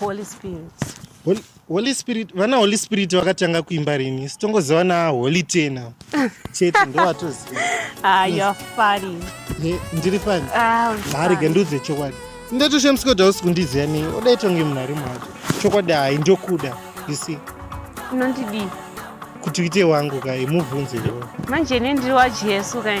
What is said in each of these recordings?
Holy Spirit. Holy, Holy Spirit, vana Holy Spirit vakatanga kuimba rini? Sitongoziva na Holy Tena. Chete ndovatoziva. Ah, yes. you're funny. Hey, ndiri funny. Ah, Mari genduze chokwadi. Ndeto shemsko dausi kundiziva nei. Oda itonge munhari mwacho. Chokwadi hai ndokuda. You see. Unondidii? Kuti uite wangu kai mubvunze iwe. Manje ne ndiri waJesu kai.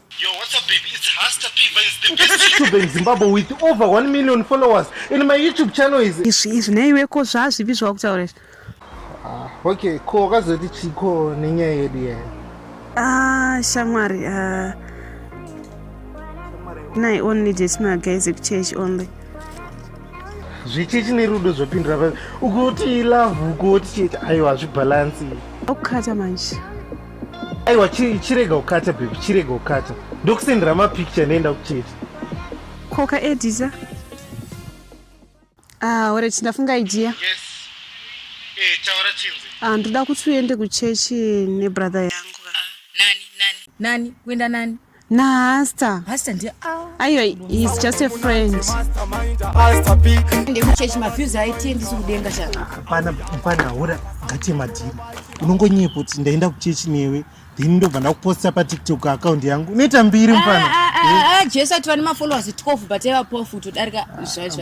Yo, what's up, baby? It's Hasta P Vines, the best. YouTube in Zimbabwe with over 1 million followers and my YouTube channel is izvi izvi neiwe ko zvazvipi zvawakutaura izvi ah, okay ko wakazoti chiko nenyaya yedu yaya ah shamwari ah nai only dates my guys ekuchechi only zvichechi nerudo zvopindura papi ukuti love ukuti chete aiwa hazvibhalansi okukata manje aiwa chirega kukata bebi chirega kukata ndokusendera mapicture ndoenda kuchete koka edisa ah, ore chindafunga idea yes. Eh, taura chinzi ah, ndoda kuti uende kuchechi nebrother yangu ah, nani nani nani kuenda nani nahasta hasta ndi aiwa he's just a friend ndekuchechi maviews aitie ndisi kudenga chapana pana hura ngate madhiri unongonyepa kuti ndaenda kuchechi newe then ndobva ndakuposta patiktok account yangu unoita mbiri mfana ah, ah, ah, jesu ati vane mafollowers 12 but evapofu todarika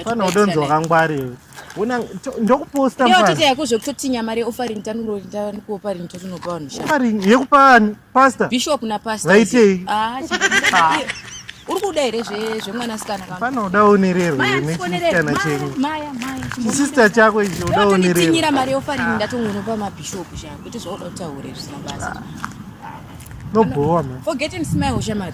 mfana udonzwa kangwari Wena ndokuposta mfana. Ndiyo tete yako zvekutotinya mari offering tanuro ndani ku offering totunopa vanhu shaka. Offering yekupa ani? Pastor. Bishop na pastor. Vaitei? Ah. ah. Uri kuda here zve zvemwana sikana kama? Fana uda onererwe nechisikana chenyu. Maya maya. Chisista chako ichi uda onererwe. Ndatinyira mari offering ndatongonopa ma bishop shaka kuti zvoda kutaure zvisina basa. Ah. No bhowa man. Forgetting smile shamari.